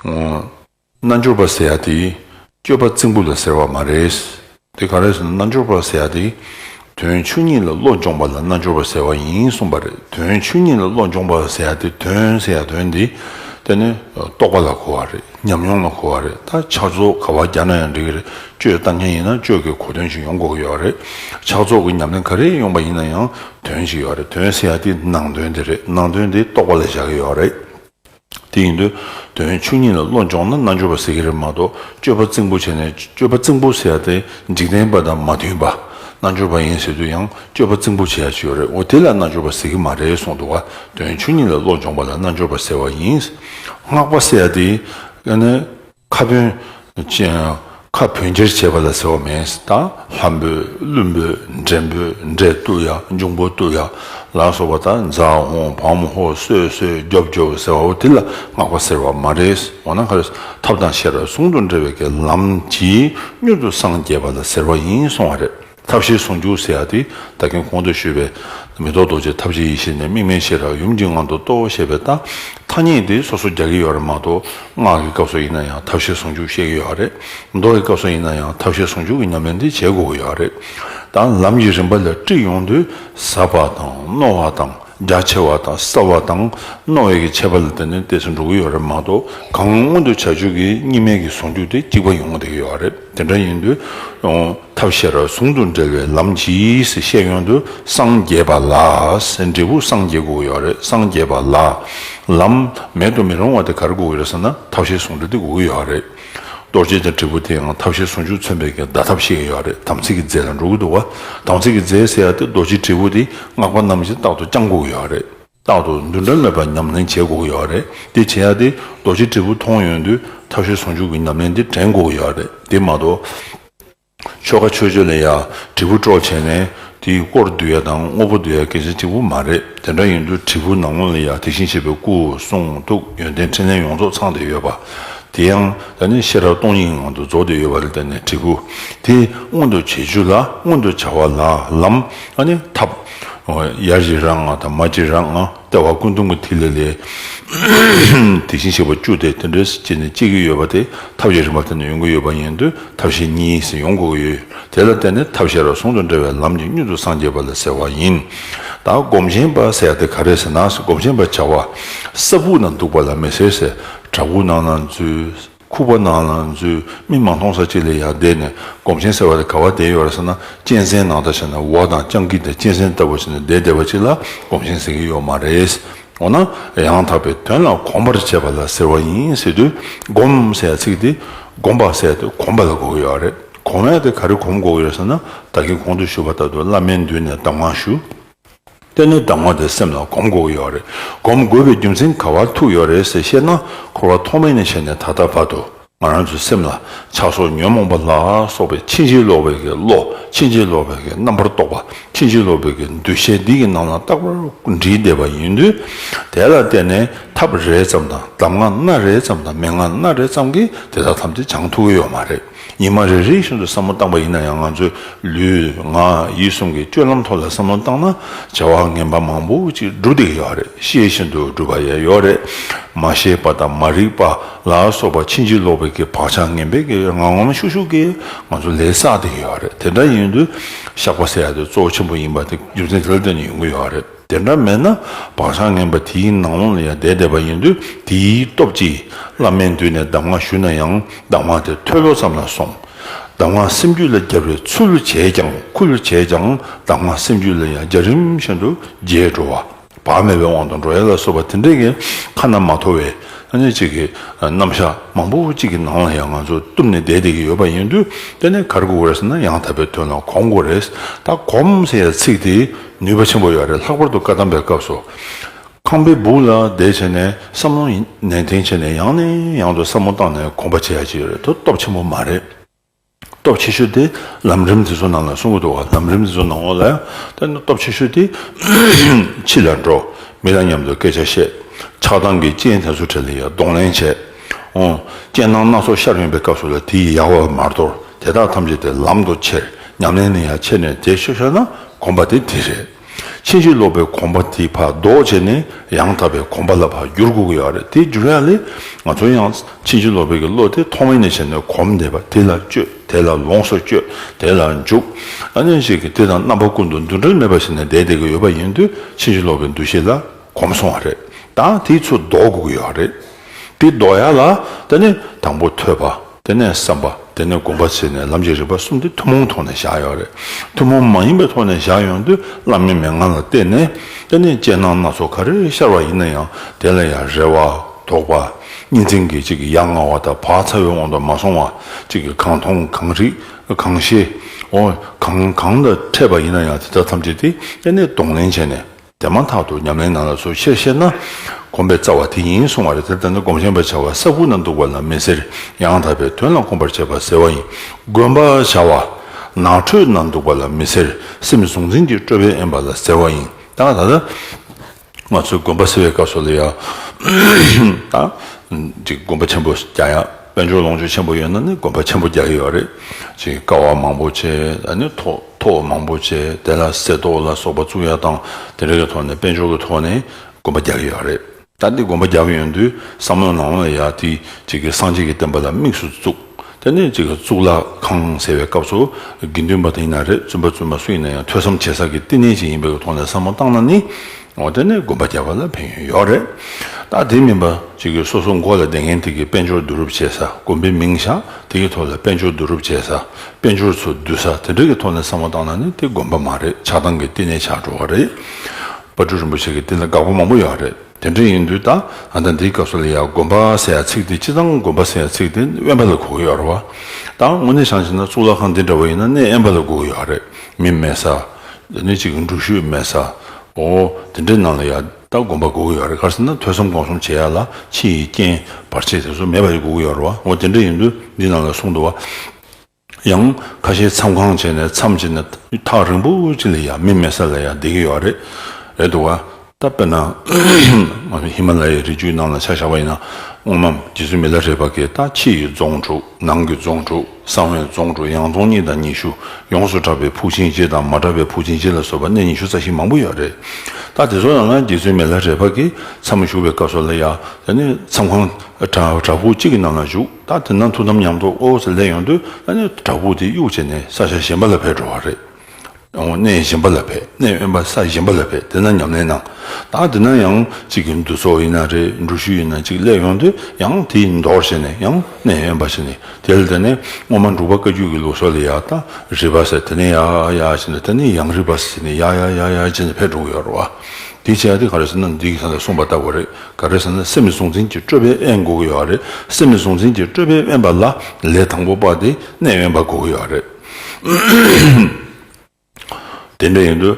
རྣལ་འབྱོར་པ་ཟེར་ཡ་དེ་སྤྱོད་པ་རྩིང་པོ་ལ་ཟེར་བ་མ་རེད། དེ་ག་རེ་ཟེར་ན་རྣལ་འབྱོར་པ་ཟེར་ཡ་དེ་དོན་ཆོས་ཉིད་ལ་བློ་འབྱོངས་པ་ལ་རྣལ་འབྱོར་པ་ཟེར་བ་ཡིན་གསུངས་པ་རེད་དོན་ཆོས་ཉིད་ལ་བློ་འབྱོངས་པ་ཟེར་ཡ་དེ་དོན་ཟེར་ཡ་དོན་དེ་དེ་ནི་རྟོགས་པ་ལ་གོ་བ་རེད་ཉམས་མྱོང་ལ་གོ་བ་རེད་ད་ཕྱག་རྫོགས་ག་བ་རྒྱག་ན་ཡང་འགྲིག་གི་རེད་སྤྱོད་ལྟ་མཁན་ཡིན་ན་སྤྱོད་ཀྱི་གོ་དོན་ཞིག་ཡོང་དགོས་ཀྱི་ཡོད་རེད་ཕྱག་རྫོགས་ཀྱི་ཉམས་ལེན་ག་རེ་ཡོང་པ་ཡིན་ན་ཡང་དོན་ཞིག་ཡོད་རེད་དོན་ཟེར་ཡ་དེ་ནང་དོན་དེ་རེད་ནང་དོན་དེ་རྟོགས་པ་ལ་བཞག་གི་ཡོད་རེད། དེ་ཡིན་དུས་དོན་བཅུ་གཉིས་ལ་བློ་འབྱོངས་ན་རྣལ་འབྱོར་པ་ཟེར་གྱི་རེད་མ་གཏོགས་སྤྱོད་པ་རྩིང་པོ་བྱས་ནས་སྤྱོད་པ་རྩིང་པོ་ཟེར་ཏེ་འཇིག་རྟེན་པ་དང་མ་མཐུན་པ། རྣལ་འབྱོར་པ་ཡིན་ཟེར་དུས་ཡང་སྤྱོད་པ་རྩིང་པོ་བྱས་ཡག་ཡོད་རེད་འོ་དེ་ལ་རྣལ་འབྱོར་པ་ཟེར་གྱི་མ་རེད་གསུངས་འདུག་དོན་བཅུ་གཉིས་ལ་བློ་འབྱོངས་པ་ལ་རྣལ་འབྱོར་པ་ཟེར་བ་ཡིན། སྔགས་པ་ཟེར་ཏེ། ཁ་བོན། ཁ་བོན་འཁྱེར་བྱེད་པ་ལ་ཟེར་བ་མེད། ལྷ་འབོད། ཀླུ་འབོད། འདྲེ་འབོད། འདྲེ་བཏུ་ཡ། འབྱུང་པོ་བཏུ་ཡ། ལ་སོགས་པ་དང་རྫ་ཧོ། བམ་ཧོ། སོད་སོད། རྒྱོབ་རྒྱོབ་ཟེར་བའོ་དེ་ལ་སྔགས་པ་ཟེར་བ་མ་རེད། འོ་ན་ཁར། ཐབས་དང་ཤེས་རབ་ཟུང་དུ་འབྲེལ་བའི་ལམ་གྱིས་མྱུར་དུ་སངས་རྒྱས་པ་ལ་ཟེར་བ་ཡིན་གསུང་བ་རེད། ཐབས་ཤེས་ཟུང་འཇུག་སེ་ཨ་ཏི་ད་གིན་གོང་དུ་ཞུས་པའི། མི་རྟོག་རྡོ་རྗེ་ཐབས་ཀྱི་ཡེ་ཤེས་ནི་དམིགས་མེད་ཤེས་རབ་ཡུམ་གྱི་ངང་དུ་རྟོགས་ཞེས་པའི་རྟགས་ཐ་སྙད་འདི་སོ་སོ་རྒྱག་གི་ཡོད་རེད་མ་གཏོགས་སྔགས་ཀྱི་སྐབས་སུ་ཡིན་ན་ཡང་ཐབས་ཤེས་ཟུང་འཇུག་བཤད་ཀྱི་ཡོད་རེད། མདོ་ཡི་སྐབས་སུ་ཡིན་ན་ཡང་ཐབས་ཤེས་ཟུང་འཇུག་གི་ཉམས་ལེན་འདི་བྱེད་དགོས་ཀྱི་ཡོད་རེད། ད་ལམ་གྱི་རིམ་པ་ལ་དཀྲིས་ཡོང་དུས་ཟབ་པ་དང་རྣོ་བ་དང་རྒྱ་ཆེ་བ་དང་གསལ་བ་དང་རྣོ་བའི་གྱི་ཆད་པ་ལ་བརྟེན་ནས་བལྟས་ཚུལ་འགྲོ་གི་ཡོད་རེད་མ་གཏོགས་གང་སྔོན་དུ་བྱ་སྤྱོད་ཀྱི་གཉིས་མེད་ཀྱི་ཟུང་འཇུག་དེ་གཅིག་པ་ཡོང་གི་ཡོད་རེད། དེ་འདྲ་ཡིན་དུས། ཐབས་ཤེས་རབ་ཟུང་དུ་འབྲེལ་བའི་ལམ་གྱིས་ཞེས་བཤད་ཡོང་དུས་སངས་རྒྱས་པ་ལ་འབྲས་བུ་སངས་རྒྱས་དགོས་ཀྱི་རེད་སངས་རྒྱས་པ་ལ་ལམ་མེད་དུ་མི་རུང་བ་དེ་ག་རེ་དགོས་ཀྱི་རེད་ཟེར་ན་ཐབས་ཤེས་ཟུང་འབྲེལ་དེ་དགོས་ཀྱི་ཡོད་རེད། རྡོ་རྗེ་འཆང་དྲིལ་བུ་དེ་ཡང་ཐབས་ཤེས་ཟུང་འཇུག་མཚོན་པའི་བརྡ་ཐབས་ཤིག་ཡོད་རེད་དམ་ཚིག་གི་རྫས་ལ་འགྲོ་གི་འདུག་བ། དམ་ཚིག་གི་རྫས་ཟེར་ཡ་དེ་རྡོ་རྗེ་དྲིལ་བུ་དེ་སྔགས་པ་རྣམས་ཀྱིས་རྟག་ཏུ་བསྐྱང་དགོས་ཀྱི་ཡོད་རེད། རྟག་ཏུ་འདུ་འབྲལ་མེད་པར་ཉམས་ལེན་བྱེད་དགོས་ཀྱི་ཡོད་རེད་དེ་བྱེད་ཡ་དེ་རྡོ་རྗེ་དྲིལ་བུ་མཐོང་ཡོང་དུས་ཐབས་ཤེས་ཟུང་འཇུག་གི་ཉམས་ལེན་དེ་དྲན་དགོས་ཀྱི་ཡོད་རེད་དེ་མ་གཏོགས། ཆོ་ག་ཆོས་སྤྱོད་ལ་ཡང་དྲིལ་བུ་སྤྲོ་བྱས་ནས་དེའི་སྐོར་བསྡུ་ཡ་དང་དངོས་པོ་བསྡུ་ཡ་གལ་ཆེན་གཅིག་པོ་མ་རེད་དེ་འདྲ་ཡིན་དུས་དྲིལ་བུ་ནང་ངོས་ལ་ཡང་དེ་བཞིན་གཤེགས་པའི་སྐུ་གསུང་ཐུགས་ཡོན་ཏན་ཕྲིན་ལས་ཡོངས་རྫོགས་ཚང་བསྡད་ཡོད་པ་དེ་ཡང་ད་ནི་ཤེས་རབ་སྟོང་ཉིད་ངང་དུ་རྫོགས་བསྡད་ཡོད་པ་རེད་དེ་ནས་དྲིལ་བུ་དེ་མངོན་དུ་བྱེད་རྒྱུ་ལ་མངོན་དུ་བྱ་བ་ལ་ལམ་ཨ་ནི་ཐབས། ཡར་གྱི་ར་ལྔ་དང་མར་གྱི་ར་ལྔ་ལྟེ་བ་ཀུན་འདུམ་གྱི་ཐིག་ལེ་ལས། དེ་བཞིན་གཤེགས་པ་བཅུ་སྟེ་དེ་འདྲའི་གཞི་ནི་གཅིག་གིས་ཡོད་པ་དེ་ཐབས་ཀྱི་རིམ་པ་དེ་ནི་ཡོང་གི་ཡོད་པ་ཡིན་དུས་ཐབས་ཤེས་གཉིས་སུ་ཡོང་དགོས་ཀྱི་ཡོད། དེ་ལ་བརྟེན་ནས་ཐབས་ཤེས་རབ་ཟུང་དུ་འབྲེལ་བའི་ལམ་གྱི་སྙུད་དུ་སངས་རྒྱས་པ་ལ་ཟེར་བ་ཡིན། ད་སྒོམ་ཆེན་པ་ཟེར་དེ་ག་རེ་ཟེར་ན་སྒོམ་ཆེན་པ་བྱ་བ། ས་བུག་ན་འདུག་པ་ལ་མི་ཟེར་ཟེར། བྲག་ཕུག་ནང་ན་འཛུལ། ཁུག་པ་ནང་ལ་འཛུལ། མིག་མ་མཐོང་ས་གཅིག་ལ་ཡར་བསྡད་ནས་སྒོམ་ཆེན་ཟེར་བ་དེ་ག་བར་བསྡད་ཡོད་ར་ཟེར་ན་གཅན་གཟན་ནང་ལྟ་བྱས་ན་འོག་དང་སྤྱང་ཀི་དང་གཅན་གཟན་ལྟ་བུ་བྱས་ནས་བསྡད་བསྡད་པ་གཅིག་ལ་སྒོམ་ཆེན་ཟེར་གྱི་ཡོད་མ་རེད། འོ་ན། ཡང་དག་པའི་དོན་ལ་གོམས་པར་བྱེད་པ་ལ་ཟེར་བ་ཡིན་ཟེར་དུས་སྒོམ་ཟེར་བ་ཚིག་དེ་སྒོམ་པ་ཟེར་ཏེ་གོམས་པ་ལ་གོ་གི་ཡོད་རེད། གོམས་ཡ་དེ་ག་རེ་གོམས་དགོས་ཀྱི་ཡོད་ཟེར་ན་བདག་གིས་གོང་དུ་ཞུས་པ་ལྟར་དུ་བླ་མའི་མདུན་ནས་གདམས་ངག་ཞུ། ལྟས་ན་ཟླ་ངོ་དེ་སེམས་ལ་གོམས་དགོས་ཀྱི་ཡོད་རེད། གོམས་དགོས་པའི་རྒྱུ་མཚན་ག་བར་ཐུག་ཡོད་རེད་ཟེར་བཤད་ན་འཁོར་བ་ཐོག་མེད་ནས་བྱས་ནས་ད་ལྟ་བར་དུ་ང་རང་ཚོའི་སེམས་ལ་ཆགས་སོགས་ཉོན་མོངས་པ་ལ་སོགས་པའི་ཕྱིན་ཅི་ལོག་པའི་གི་བློ་ཕྱིན་ཅི་ལོག་པའི་གི་རྣམ་པར་རྟོག་པ་ཕྱིན་ཅི་ལོག་པའི་གི་འདུ་ཤེས་འདི་གི་ནང་ལ་རྟག་པར་འདྲིས་བསྡད་པ་ཡིན་དུས་དེ་ལ་བལྟས་ནས་ཐབས་རེ་ཙམ་དང་གདམས་ངག་སྣ་རེ་ཙམ་དང་མན་ངག་སྣ་རེ་ཙམ་གྱིས་དེ་དག་ཐམས་ཅད་སྦྱང་ཐུབ་ཀྱི་ཡོད་མ་རེད། ཉི་མ་རེ་རེ་བཞིན་དུ་བསམ་བློ་བཏང་པ་ཡིན་ན་ཡང་ང་ཚོས་ལུས། ངག། ཡིད་གསུམ་གྱི་སྤྱོད་ལམ་ཐོག་ལ་བསམ་བློ་བཏང་ན་བྱ་བ་ངན་པ་མང་པོ་ཅིག་བསྒྲུབ་བསྡད་ཀྱི་ཡོད་རེད་ཤེས་བཞིན་དུ་སྒྲུབ་པ་ཡང་ཡོད་རེད། མ་ཤེས་པ་དང་མ་རིག་པ་ལ་སོགས་པ་ཕྱིན་ཅི་ལོག་པའི་གི་བག་ཆགས་ངན་པའི་གི་ངང་ངམ་ཤུགས་ཤུགས་ཀྱིས་ང་ཚོ་ལས་བསགས་བསྡད་ཀྱི་ཡོད་རེད་དེ་འདྲ་ཡིན་དུས་བཤགས་པ་བསལ་ཡ་དེ་གཙོ་བོ་ཆེན་པོ་ཡིན་པ་དེ་རྒྱུ་མཚན་དེ་ལ་བརྟེན་ནས་ཡོང་གི་ཡོད་རེད། དེ་འདྲ་མེད་ན་བག་ཆགས་ངན་པ་དེའི་ནང་ལོང་ལ་ཡང་བསྡད་བསྡད་པ་ཡིན་དུས་དེའི་སྟོབས་ཀྱིས་བླ་མའི་མདུན་ནས་གདམས་ངག་ཞུས་ན་ཡང་གདམས་ངག་དེ་ཐོས་ལོ་ཙམ་ལ་སོང། གདམས་ངག་སེམས་རྒྱུད་ལ་རྒྱབ་རེ་ཚུལ་བྱས་ཀྱང་ཁུལ་བྱས་ཀྱང་གདམས་ངག་སེམས་རྒྱུད་ལ་ཡང་རྒྱ་རིམ་བཞིན་དུ་རྒྱས་འགྲོ། བག་མེད་པའི་དབང་དུ་འགྲོ་ཡ་ལ་སོགས་པ་དེ་འདྲས་ཀྱི་ཁ་ན་མ་ཐོ་བའི་སྣ་གཅིག་གི་རྣམ་བཞག་མང་པོ་གཅིག་གི་ནང་ལ་ཡང་ང་ཚོ་བཏུབ་ནས་བསྡད་བསྡད་ཀྱི་ཡོད་པ་ཡིན་དུས་དེ་ནས་གར་དགུ་རེས་ན་ཡང་དག་པའི་དོན་ལ་གོམས་དགུ་རེས་ད་གོམས་ཟེར་ཡ་ཚིག་དེའི་ནུས་པ་ཆེན་པོ་ཡོད་རེད་ལྷག་པར་དུ་བཀའ་གདམས་པའི་སྐབས་སུ། ཁང་པའི་སྦུག་ལ་བསྡད་བྱས་ནས་བསམ་བློ་ནན་ཏན་བྱས་ནས་ཡང་ནས་ཡང་དུ་བསམ་བློ་བཏང་ནས་དགོངས་པ་བྱས་ཡག་ཅི་ཡོད་རེད་དོ་སྟོབས་ཆེན་པོ་མ་རེད། སྟོབས་ཆེ་ཤོས་དེ་ལམ་རིམ་དེ་ཚོ་ནང་ལ་གསུང་གི་འདུག་ལམ་རིམ་དེ་ཚོ་ནང་ལ་བསྟན་ན་སྟོབས་ཆེ་ཤོས་དེ་ཕྱི་ལ་འགྲོ་མི་ལ་མཉམ་དུ་སྐད་ཆ་བཤད་ཆགས་སྡང་གི་རྐྱེན་དེ་ཚོ་བྲལ་ཡ་གདོང་ལེན་བྱས། རྐྱེན་སྣང་སྣ་ཚོགས་ཤར་ཡོང་པའི་སྐབས་སུ་ལ་དེ་ཡི་ཡལ་བ་མར་དོར་དེ་དག་ཐམས་ཅད་དེ་ལམ་དུ་ཁྱེར་ཉམས་ལེན་ནི་ཡང་ཁྱེར་ནས་དེ་ཤོ་ཤོ་ན་གོམས་པ་དེ་དེ་རེད། ཕྱིན་ཅི་ལོག་པའི་གོམས་པ་དེ་ཕར་ཟློག་བྱས་ནས་ཡང་དག་པའི་གོམས་པ་ལ་ཕར་འགྱུར་དགོས་ཀྱི་ཡོད་རེད་དེ་འགྱུར་ཡ་ལས་ང་ཚོ་ཡང་ཕྱིན་ཅི་ལོག་པའི་གི་བློ་དེ་ཐོག་མེད་ནས་བྱས་ནས་གོམས་བསྡད་པ་དེ་ལ་སྤྱོད་དེ་ལ་ལོངས་སུ་སྤྱོད་དེ་ལ་འཇུག་ཨ་ནས་ཞིག་གིས་དེ་དང་རྣམ་པ་ཀུན་ཏུ་འདུ་འབྲལ་མེད་པར་བྱས་ནས་བསྡད་བསྡད་ཀྱི་ཡོད་པ་ཡིན་དུས་ཕྱིན་ཅི་ལོག་པའི་འདུ་ཤེས་ལ་གོམས་སོང་བ་རེད་ད་དེའི་ཚུལ་ཟློག་དགོས་ཀྱི་ཡོད་རེད། དེ་ལྡོག་ཡ་ལ་དེ་ནས་དང་པོ་ཐོས་པ་དེ་ནས་བསམ་པ་དེ་ནས་སྒོམ་པ་བྱས་ནས་ལམ་གྱི་རིགས་པ་གསུམ་དེ་ཐུན་མོང་ཐོག་ནས་བཞག་ཡོད་རེད། ཐུན་མོང་མ་ཡིན་པའི་ཐོག་ནས་བཞག་ཡོང་དུས་བླ་མའི་མན་ངག་ལ་བལྟས་ནས་དེ་ནས་དཔྱད་སྣང་སྣ་ཚོགས་ག་རེ་ཤར་བ་ཡིན་ན་ཡང་དེ་ལ་ཡང་རེ་བ། དོགས་པ། གཉིས་འཛིན་གྱིས་གཅིག་གི་ཡ་ང་བ་དང་བག་ཚ་བའི་དབང་དུ་མ་སོང་བ། གཅིག་གིས་གང་མཐོང་གང་རིག་གང་ཤེས། འོ་གང་གང་དང་འཕྲད་པ་ཡིན་ན་ཡང་དེ་དག་ཐམས་ཅད་དེ་དེ་ནས་གདོང་ལེན་བྱས་ནས། དེ་མ་ཐག་ཏུ་ཉམས་ལེན་ནང་ལ་སོགས་ཆེར་བཤད་ན། གོམས་པའི་རྩ་བ་དེ་ཡིན་གསུང་བ་རེད་དེར་ལྟ་ན་སྒོམ་ཆེན་པ་བྱ་བ་ས་ཁུག་ན་འདུག་པ་ལ་མི་ཟེར་ཡང་དག་པའི་དོན་ལ་གོམས་པར་བྱེད་པ་ཟེར་བ་ཡིན་དགོན་པ་བྱ་བ་ནགས་ཁྲོད་ན་འདུག་པ་ལ་མི་ཟེར་སེམས་གཟུང་འཛིན་གྱི་སྤྲོས་པས་དབེན་པ་ལ་ཟེར་བ་ཡིན་ད་ད་ལྟ་ང་ཚོས་དགོན་པ་ཟེར་བའི་སྐབས་སོགས་ལ་ཡང་དག་འདི་དགོན་པ་ཆེན་པོ་རྒྱ་ཡང། དཔལ་འབྱོར་ལོངས་སྤྱོད་ཆེན་པོ་ཡོད་ན་ནི་དགོན་པ་ཆེན་པོ་རྒྱག་གི་ཡོད་རེད། ཅེས་ཀ་བ་མང་པོ་བྱས། ཐོ་བ་མང་པོ་བྱས་དེ་ལ་གསེར་ཏོག་ལ་སོགས་པ་བཙུགས་ཡ་དང་དེ་འདྲ་གི་ཐོག་ནས་དཔལ་འབྱོར་གི་ཐོག་ནས་དགོན་པ་རྒྱག་གི་ཡོད་རེད། ད་འདི་དགོན་པ་རྒྱག་གི་ཡོད་དུས་བསམ་བློ་ནང་བས་ཡ་འདི་གཅིག་གི་སངས་རྒྱས་ཀྱི་བསྟན་པ་ལ་དམིགས་སུ་བཙུགས་དེ་ནི་གཅིག་གཙུག་ལག་ཁང་ཟེར་བའི་སྐབས་སུ་དགེ་འདུན་པ་དེ་ཡིན་ན་རེད་བཙུན་པ་བཙུན་མ་སུ་ཡིན་ན་ཡང་ཐོས་བསམ་བྱེད་ས་ཀྱི་བསྟི་གནས་གཅིག་ཡིན་པའི་ཐོག་ནས་བསམ་བློ་བཏང་ན་ནི། ངོ་དེ་ནས་དགོན་པ་རྒྱག་པ་ལ་ཕན་ཡོན་ཡོད་རེད་ད་དེ་མིན་པ་ཅིག་གིས་སོ་སོ་མགོ་ལ་བདེ་མཁན་དེ་གིས་དཔལ་འབྱོར་བསྡུ་རུབ་བྱེད་ས་དགོན་པའི་མིང་བཞག་དེ་གི་ཐོག་ལ་དཔལ་འབྱོར་བསྡུ་རུབ་བྱེད་ས་དཔལ་འབྱོར་ཚོ་བསྡུ་ས་དེ་འདྲ་གི་ཐོག་ནས་བསམ་བློ་བཏང་ན་ནི་དེ་དགོན་པ་མ་རེད་ཆགས་སྡང་གི་བསྟི་གནས་ཆགས་འགྲོ་བ་རེད་པ་སྤྲུལ་རིན་པོ་ཆེ་གི་བསྟི་ན་དགག་པ་མང་པོ་ཡོད་རེད་དེ་འདྲ་ཡིན་དུས་ད་ང་ད་འདིའི་སྐབས་སུ་ལ་ཡ་དགོན་པ་ཟེར་ཡ་ཚིག་དེ་ཅི་ཙང་དགོན་པ་ཟེར་ཡ་ཚིག་དེ་དབེན་པ་ལ་གོ་གི་ཡོད་རེད་བ་ད་དངོས་གནས་བྱང་ཆེ་ན་གཙུག་ལག་ཁང་འདི་འདྲ་བ་ཡིན་ན་གནས་དབེན་པ་ལ་གོ་གི་ཡོད་རེད་མི་མེད་ས། འདི་ནི་གཅིག་འབྲུག་ཤོད་སྨད་ས་འོ། དེ་འདྲའི་ནང་ལ་ཡང་ལྟ་སྒོམ་པ་དགོས་ཀྱི་ཡོད་རེད་ཁར་སེམས་ན་ཐོས་བསམ་སྒོམ་གསུམ་བྱེད་ཡག་ལ་ཕྱི་ཡི་རྐྱེན་བར་ཆད་དེ་ཚོ་མེད་པ་ཞིག་དགོས་ཀྱི་ཡོད་རེད་བ་འོ་དེ་འདྲ་ཡིན་དུས་འདི་ནང་ལ་གསུང་འདུག་བ། ཡང་ཁ་ཤས་མཚམས་ཁང་བྱས་ནས་མཚམས་བྱས་ནས་ཐག་རིང་པོ་ཅིག་ལ་ཡང་མི་མེད་ས་ལ་ཡང་བསྡད་ཀྱི་ཡོད་རེད་འདུག་བ། བཏབ་པས་ན། ང་ཚོ་ཧི་མ་ལ་ཡའི་རི་རྒྱུད་རྣམས་ལ་ཆ་བཞག་པ་ཡིན་ན། སྔོན་མམ་རྗེས་སུ་མི་ལ་རས་པ་ཀའི་ད་ཕྱི་ཡི་རྫོང་དྲུག་ནང་གི་རྫོང་དྲུག་གསང་བའི་རྫོང་དྲུག་ཡང་རྫོང་གཉིས་དང་ཉི་ཤུ་ཡོངས་སུ་གྲགས་པའི་ཕུག་ཆིང་ཅེ་དང་མ་གྲགས་པའི་ཕུག་ཆིང་ཅེ་ལ་སོགས་པ་གནས་ཉི་ཤུ་རྩ་བཞི་མང་པོ་ཡོད་རེད་ད་དེ་ཚོ་རྣམས་ལ་རྗེས་སུ་མི་ལ་རས་པ་ཀའི་མཚམས་མ་ཞུགས་པའི་སྐབས་སུ་ལ་ཡ་ད་ནི་མཚམས་ཁང་བྲག་ཕུག་གཅིག་གི་ནང་ལ་བཞུགས་ད་དེ་ན་ཐུགས་དམ་ཉམས་རྟོགས་ཨོ་ཟེར་སླད་ཡོང་དུས་ད་ནི་བྲག་ཕུག་དེ་གཡུག་བྱས་ནས་ས་ཆ་གཞན་པ་ལ་བས་འགྲོ་བ་རེད། སྟོང་གནས་གཞན་པ་ལ་འཕེལ་གནས་དབེན་པ་ས་གཞན་པ་ལ་འཕེལ་དེ་ན་ཉམས་ལེན་གནང། ད་དེ་ན་ཡང་གཅིག་གི་འདུ་ཚོགས་ཡིན་ན་རེ་འགྲུལ་བཞུད་ཡིན་ན་གཅིག་སླེབས་ཡོང་དུས་ཡང་དེ་མདོར་བྱས་ནས་ཡང་གནས་དབེན་པ་བྱས་ནས་དེ་ལ་དེ་ནས་སྔོན་མ་འབྲུག་པ་བཀའ་རྒྱུད་ཀྱི་ལུགས་སྲོལ་ལ་ཡག་ད་རིས་པ་ཟེར་དེ་ནས་ཡག་ཡག་བྱས་ནས་དེ་ནས་ཡང་རིས་པ་ཟེར་དེ་ནས་ཡག་ཡག་ཡག་ཡག་བྱས་ནས་ཕེབས་འགྲོ་གི་ཡོད་རེད་བ། དེ་བྱས་ཏེ་ག་རེ་ཟེར་ན་འདི་ག་ལ་གསུངས་པ་ལྟ་བུ་རེད་ག་རེ་ཟེར་ན་སེམས་མི་གཟུང་འཛིན་གྱི་སྤྲོས་པས་དབེན་དགོས་ཀྱི་ཡོད་རེད་སེམས་མི་གཟུང་འཛིན་གྱི་སྤྲོས་པས་དབེན་པ་ལ་ལས་དང་པོ་པ་དེ་གནས་དབེན་པ་དགོས་ཀྱི་ཡོད་རེད། དེ་འདྲ་ཡིན་དུས།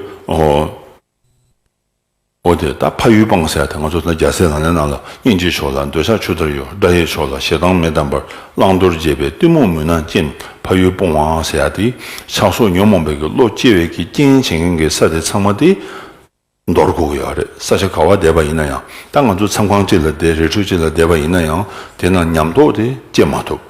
འོ་དེ་ད་ཕ་ཡུལ་སྤང་སའི་དེ་ང་ཚོ་རྒྱ་སེ་ལང་ལའི་ནང་ལ་སྙིང་རྗེ་ཕྱོགས་ལ་འདོད་ཆགས་ཆུ་ལྟར་གཡོ་དགྲ་ཡི་ཕྱོགས་ལ་ཞེ་སྡང་མི་དམ་པར་བླང་དོར་འབྱེད་པའི་གཏི་མུག་མུན་ནག་ཅན་ཕ་ཡུལ་སྤོང་བའང་ཟེར་ཡ་དེ་ཆགས་སོ་ཉོན་མོངས་པའི་གི་བློ་སྐྱེ་བའི་གི་རྐྱེན་བྱེད་མཁན་གི་ས་དེ་ཚང་མ་དེ། མདོར་སྒུག་གི་ཡོད་རེད་ས་ཆ་ག་བ་བསྡད་པ་ཡིན་ན་ཡང་ད་ང་ཚོ་མཚམས་ཁང་ཅིག་ལ་བསྡད་རི་ཁྲོད་ཅིག་ལ་བསྡད་པ་ཡིན་ན་ཡང་དེ་ན་ཉམས་རྟོགས་དེ་སྐྱེ་མ་ཐུབ།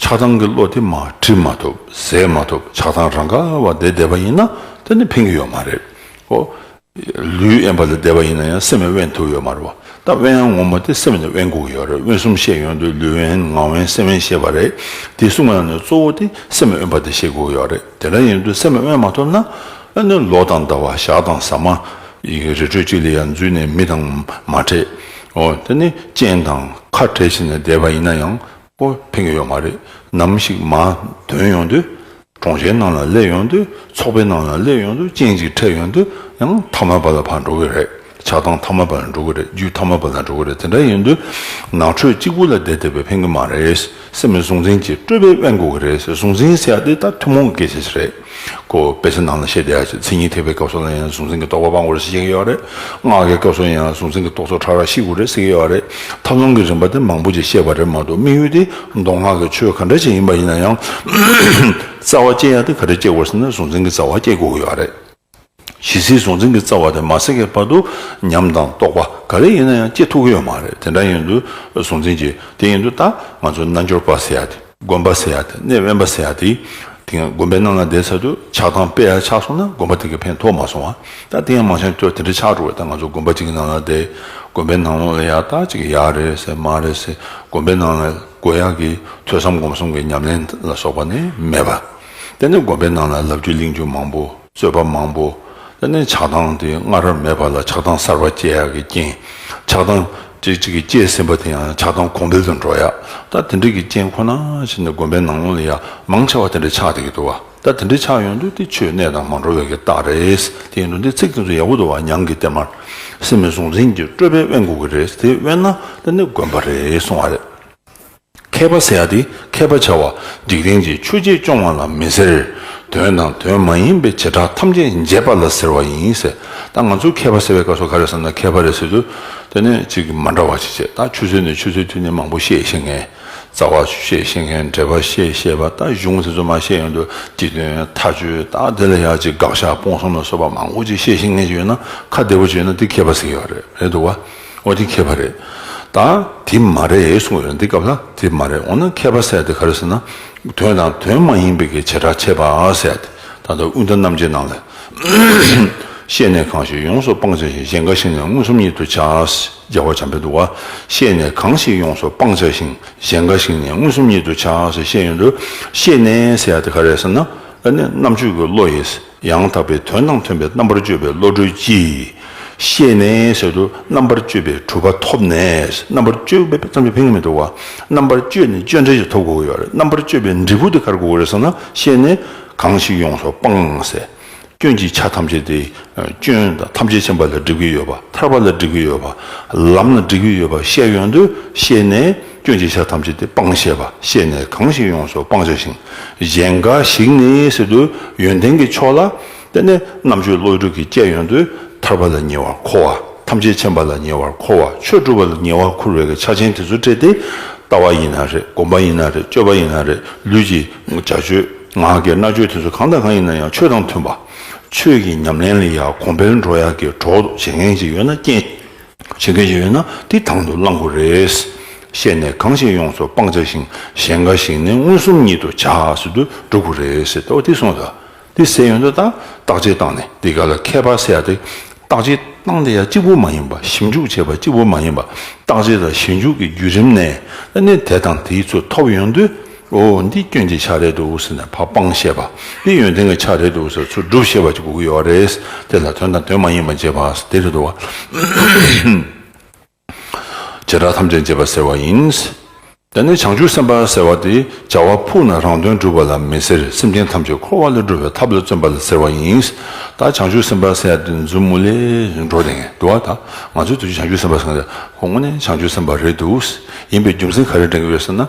ཆགས་སྡང་གི་བློ་དེ་མ་བྲི་མ་ཐུབ་ཟད་མ་ཐུབ་ཆགས་སྡང་རང་ག་བ་བསྡད་བསྡད་པ་ཡིན་ན་དེ་ནི་ཕན་གྱི་ཡོད་མ་རེད་ཨོ། ལུས་དབེན་པ་ལ་བསྡད་པ་ཡིན་ན་ཡང་སེམས་ཡང་དབེན་ཐུབ་ཡོད་མ་རེད་བ་ད་དབེན་ཡང་ངོ་མ་དེ་སེམས་ནི་དབེན་སྒུག་གི་ཡོད་རེད་དབེན་གསུམ་བཤད་ཡོང་དུས་ལུས་དབེན་ངག་དབེན་སེམས་དབེན་ཤེས་པ་རེད་དེ་གསུམ་ཡང་ནི་གཙོ་བོ་དེ་སེམས་དབེན་པ་དེ་ཤེས་དགོས་ཀྱི་ཡོད་རེད། དེ་འདྲ་ཡིན་དུས་སེམས་ལ་དབེན་མ་ཐུབ་ན། ཨ་ནུ་ལོ་དང་ཟླ་བ་ཞག་དང་ཟ་མ། ཡི་རེ་གྲོལ་ཅིག་ལ་ཡང་འཛུལ་ནས་མི་དང་མ་འཕྲད། འོ་དེ་ནི་སྤྱན་དང་ཁ་བྲལ་བྱས་ནས་བསྡད་པ་ཡིན་ན་ཡང། ཨོ་ཕན་གྱི་ཡོད་མ་རེད། ནམ་ཞིག་མ་དོན་ཡོང་དུས། གྲོང་ཁྱེར་ནང་ལ་སླེབས་ཡོང་དུས། ཚོགས་པའི་ནང་ལ་སླེབས་ཡོང་དུས་སྤྱན་ཅིག་འཕྲད་ཡོང་དུས་ཡང་ཐ་མལ་པ་ལ་ཕར་འགྲོ་གི་རེད། ཆགས་སྡང་ཐ་མ་པ་ལ་འགྲོ་གི་རེད་རྒྱུད་ཐ་མ་པ་ལ་འགྲོ་གི་རེད་དེ་འདྲ་ཡིན་དུས་ནགས་ཁྲོད་གཅིག་པུ་ལ་བསྡད་བསྡད་པས་ཕན་གི་མ་རེད་སེམས་ནི་གཟུང་འཛིན་གྱིས་སྤྲོས་པས་དབེན་དགོས་གི་རེད་གཟུང་འཛིན་ཟེར་ཡག་འདི་ད་ཐུན་མོང་གི་སྐད་ཆ་ཞིག་རེད་ཀོ་དཔེ་ཆ་ནང་ལ་བཤད་བསྡད་ཡག་ཅིག་མཚན་ཉིད་ཐེག་པའི་སྐབས་སོགས་ལ་ཡང་གཟུང་འཛིན་གྱི་རྟོག་པ་སྤང་དགོས་རེད་ཟེར་གྱི་ཡོད་རེད་སྔགས་ཀྱི་སྐབས་སོགས་ཡང་གཟུང་འཛིན་གྱི་རྟོག་ཚོགས་ཕྲ་རགས་ཤི་དགོས་རེད་ཟེར་གྱི་ཡོད་རེད་ཐབས་ལམ་གྱི་རིམ་པ་དེ་མང་པོ་ཅིག་བཤད་པ་རེད་མ་གཏོགས་དམིགས་ཡུལ་དེ་མདོ་སྔགས་ཀྱི་ཆོས་ག་འདྲ་ཞིག་ཡིན་པ་ཡིན་ན་ཡང་རྩ་བ་བསྐྱེད་ཡག་འདི་ག་འདྲ་བསྐྱེད་དགོས་ཟེར་ན་གཟུང་འཛིན་གྱི་རྩ་བ་བསྐྱེད་དགོས་གི་ཡོད་རེད། ཇི་སྲིད་གཟུང་འཛིན་གྱི་རྩ་བ་དེ་མ་སྲེག་གི་བར་དུ་ཉམས་དང་རྟོགས་པ་ག་རེ་ཡིན་ན་ཡང་སྐྱེ་ཐུག་གི་ཡོད་མ་རེད་དེ་འདྲ་ཡིན་དུས་གཟུང་འཛིན་གྱི་དེ་ཡིན་དུས་ད་ང་ཚོ་རྣལ་འབྱོར་པ་ཟེར་ཡ་དེ། དགོན་པ་ཟེར་ཡ་དེ་གནས་དབེན་པ་ཟེར་ཡ་དེ། དེ་ཡང་དགོན་པའི་ནང་ལ་བསྡད་ཚར་དུས་ཆགས་སྡང་དཔེ་ཡར་ཆགས་སོང་ན་དགོན་པ་དེ་གས་ཕན་ཐོགས་མ་སོང་བ་ད་དེ་ཡང་མང་ཆེ་ཁྱོད་དེ་འདྲ་ཆགས་འགྲོ་བས་ད་ང་ཚོ་དགོན་པ་གཅིག་གི་ནང་ལ་བསྡད་དགོན་པའི་ནང་ལོགས་ལ་ཡག་ད་ཅིག་ཡག་རེད་ཟེར་མ་རེད་ཟེར་དགོན་པའི་ནང་ལ་དགོས་ཡག་གི་ཐོས་བསམ་སྒོམ་གསུམ་གྱི་ཉམས་ལེན་ལ་སོགས་པ་ནི་མེད་པ། དེ་ནས་དགོན་པའི་ནང་ལ་ལབ་རྒྱུ་གླེང་རྒྱུ་མང་པོ་རྩོད་པ་མང་པོ། དེ་ནས་ཆགས་སྡང་དེ་སྔ་རབས་མེད་པ་ལ་ཆགས་སྡང་གསར་པ་སྐྱེ་ཡག་གི་རྐྱེན། ཆགས་སྡང་ཅིག་ཅིག་གིས་སྐྱེས་ཟིན་པ་དེ་ཡང་ཆགས་སྡང་གོང་འཕེལ་དུ་འགྲོ་ཡག་ད་དེ་འདྲ་གི་རྐྱེན་ཁོ་ན་བྱས་ནས་དགོན་པའི་ནང་ལོགས་ལ་ཡང་མང་ཆེ་བ་དེ་འདྲ་ཆགས་བསྡད་ཀྱི་འདུག་བ་ད་དེ་འདྲ་ཆགས་ཡོང་དུས་དེ་ཆོས་གནས་དང་མ་འགྲོ་བའི་གི་རྟགས་རེད་དེ་ཡིན་དུ་འདི་ཚིག་དེ་ཚོ་ཡག་པོ་འདུག་བ་ཉང་གི་གཏེར་མར་སེམས་མེད་གཟུང་འཛིན་གྱི་སྤྲོས་པས་དབེན་དགོས་གི་རེད་དེ་དབེན་ན་དེ་ནི་དགོན་པ་རེད་གསུང་བ་རེད། མཁས་པ་ཟེར་ཏེ་མཁས་པ་བྱ་བ། འཇིག་རྟེན་གྱི་ཆོས་རྗེས་སྐྱོང་བ་ལ་མི་ཟེར། དོན་དང་དོན་མ་ཡིན་པའི་བྱེ་བྲག་ཐམས་ཅད་འབྱེད་པ་ལ་ཟེར་བ་ཡིན། ད་ང་ཚོས་མཁས་པ་ཟེར་བའི་སྐབས་སུ་ག་རེ་བསམ་ན་མཁས་པ་རེད་ཟེར་དུས། དེ་ནི་གཅིག་མ་འདྲ་བ་ཞིག་བྱེད། ད་ཆུ་ཚོད་ནས་ཆུ་ཚོད་དུས་ནི་མང་པོ་ཤེས་ཤེས་མཁན། རྩ་བ་ཤེས་ཤེས་མཁན་འགྲེལ་པ་ཤེས་ཤེས་པ་ད་གཞུང་ཟེར་ཚོད་མ་ཤེས་ཡོང་དུས་སྤྱི་དོན་མཐའ་དཔྱོད་ད་དེ་ལ་ཡག་ཅིག་དགག་བཞག་སྤོང་གསུམ་ལ་སོགས་པ་མང་པོ་ཅིག་ཤེས་ཤེས་མཁན་ཞིག་ཡོད་ན་ཁ་བདེ་པོ་ཅིག་ཡོད་ན་དེ་མཁས་པ་ཟེར་གྱི་ཡོད་རེད་འདུག་བ། ཨོ་དེ་མཁས་པ་རེད་ད། དེ་མ་རེད་གསུངས་པ་རེད་འདི་སྐབས་ན་དེ་མ་རེད་འོ་ན་མཁས་པ་ཟེར་དེ་ག་རེད་ཟེར་ན། དོན་དང་དོན་མ་ཡིན་པའི་གི་བྱེ་བྲག་ཕྱེད་པ་ཟེར་དེ་ད་ལྟ་དབུས་མཐའ་རྣམ་འབྱེད་ནང་ལས། ཤེས་ནས་གང་ཞིག་ཡོངས་སུ་སྤང་བྱ་ཞིང་གཞན་འགའ་ཞིག་ནས་མངོན་སུམ་ཉིད་དུ་བྱ། རྒྱལ་བ་འཇམ་དཔལ་དུ་བ། ཤེས་ནས་གང་ཞིག་ཡོངས་སུ་སྤང་བྱ་ཞིང་གཞན་འགའ་ཞིག་ནས་མངོན་སུམ་ཉིད་དུ་བྱ་ཞེས་བཤད་ཡོད་དོ། ཤེས་ནས་ཟེར་དེ་ག་རེད་ཟེར་ན། ཨ་ནི་རྣམ་དཔྱོད་ཀྱི་བློ་ཡིས། ཡང་དག་པའི་དོན་དང་མཐུན་པའི་རྣམ་པར་དཔྱོད་པའི་བློ་གྲོས་ཀྱིས་ཤེས་ནས་ཟད་དུ་རྣམ་པར་དཔྱོད་པའི་གྲུབ་པ་ཐོབ་ནས་རྣམ་པར་དཔྱོད་པའི་བསམ་པ་ཕན་ངེས་མི་འགྲོ་བ་རྣམ་པར་དཔྱོད་ནས་དཔྱོད་འབྲས་ཀྱི་ཐོབ་དགོས་ཀྱི་རྣམ་པར་དཔྱོད་པའི་འབྲས་བུ་དེ་གར་དགོས་ཀྱི་རེད་བསམ་ན་ཤེས་ནས་གང་ཞིག་ཡོངས་སུ་སྤངས་ནས་ཟད་སྐྱོན་གྱི་ཆ་ཐམས་ཅད་དེ་སྐྱོན་དང་ཐམས་ཅད་མཁྱེན་པ་ལ་འགྲིག་གི་ཡོད་པ་ཐར་པ་ལ་འགྲིག་གི་ཡོད་པ་ལམ་ལ་འགྲིག་གི་ཡོད་པ་ཤེས་ཡོང་དུས་ཤེས་ནས། སྐྱོན་གྱི་ཆ་ཐམས་ཅད་དེ་སྤང་བྱས་པ་ཤེས་ནས་གང་ཞིག་ཡོངས་སུ་སྤང་བྱ་ཞིང་གཞན་འགའ་ཞིག་ནི་སྲིད་དུ་ཡོན་ཏན་གྱི་ཕྱོགས་ལ་བརྟེན་ནས་རྣམ་གཅོད་བློ་གྲོས་ཀྱི་སྐྱེད་ཡོན་དུ་ཐར་པ་ལ་ཉེ་བར་མཁོ་བ་ཐམས་ཅད་མཁྱེན་པ་ལ་ཉེ་བར་མཁོ་བ་ཆོས་སྒྲུབ་པ་ལ་ཉེ་བར་མཁོ་བའི་ཆ་ཆེན་དེ་ཚོ་སྤྲད་དེ་ལྟ་བ་ཡིན་ན་རེད་བསྒོམ་པ་ཡིན་ན་རེད་སྤྱོད་པ་ཡིན་ན་རེད་ལུས་ཀྱི་བྱ་སྤྱོད་ངག་གི་རྣ་སྤྱོད་དེ་ཚོ་གང་དང་གང་ཡིན་ན་ཡང་ཆོས་དང་མཐུན་པ། ཆོས་ཀྱི་ཉམས་ལེན་ལ་ཡང་གོང་འཕེལ་འགྲོ་ཡག་གི་གྲོགས་བྱེད་མཁན་ཞིག་ཡོད་ན་རྐྱེན། བྱེད་མཁན་ཞིག་ཡོད་ན་དེ་དང་དུ་བླང་དགོས་རེད། བཤད་ནས་གང་ཞིག་ཡོངས་སུ་སྤང་བྱ་ཞིང་གཞན་འགའ་ཞིག་ནི་མངོན་སུམ་ཉིད་དུ་བྱ་སྲོལ་དུ་འགྲོ་དགོས་རེད་ཟེར་ཏོ་དེ་སོང་ད། དེ་ཟེར་ཡོང་ད་དང་བརྟག་དཔྱད་བཏང་ནས་དེ་ག་ལ་མཁས་པ་ཟེར་ཏེ། བརྟག་དཔྱད་བཏང་དེ་ཡང་གཅིག་པུ་མ་ཡིན་པ་ཞིབ་འཇུག་བྱས་པ་གཅིག་པུ་མ་ཡིན་པ་བརྟག་དཔྱད་དང་ཞིབ་འཇུག་གི་བརྒྱུད་རིམ་ནས་ནི་དེ་དང་དེའི་ཚུལ་ཐོབ་ཡོང་དུས། ཨོ་འདི་སྐྱོན་གྱི་ཆ་རེད་འདུག་ཟེར་ནས་ཕ་དཔང་བཤད་པ། འདི་ཡོན་ཏན་གྱི་ཆ་རེད་འདུག་ཟེར་ཚུར་སྒྲུབ་བཤད་པ་ཅིག་གོ་གི་ཡོད་རེད། དེ་ལ་དོན་དང་དོན་མ་ཡིན་པ་འབྱེད་པ། དེ་རེད་འདུག་བ། བྱེ་བྲག་ཐམས་ཅད་འབྱེད་པ་ཟེར་བ་ཡིན། དེ་ནི་བྱང་ཆུབ་སེམས་དཔའ་ཟེར་བ་དེ་བྱ་བ་ཕུག་ན་རང་དོན་སྒྲུབ་པ་ལ་མི་ཟེར་སེམས་ཅན་ཐམས་ཅད་འཁོར་བ་ལས་སྒྲོལ་བའི་ཐབས་ལ་བརྩོན་པ་ལ་ཟེར་བ་ཡིན། ད་བྱང་ཆུབ་སེམས་དཔའ་ཟེར་ཡ་དེ་མཛུབ་མོ་ལས་འགྲོ་དེ་ངེས་འདུག་བ། ང་ཚོས་དེ་བྱང་ཆུབ་སེམས་དཔའ་ཟེར་ན་དེ་ཁོང་མོ་ནི་བྱང་ཆུབ་སེམས་དཔའ་རེད་འདུག་ཡིན་པའི་རྒྱུ་མཚན་ག་རེ་དྲན་གྱི་ཡོད་ཟེར་ན།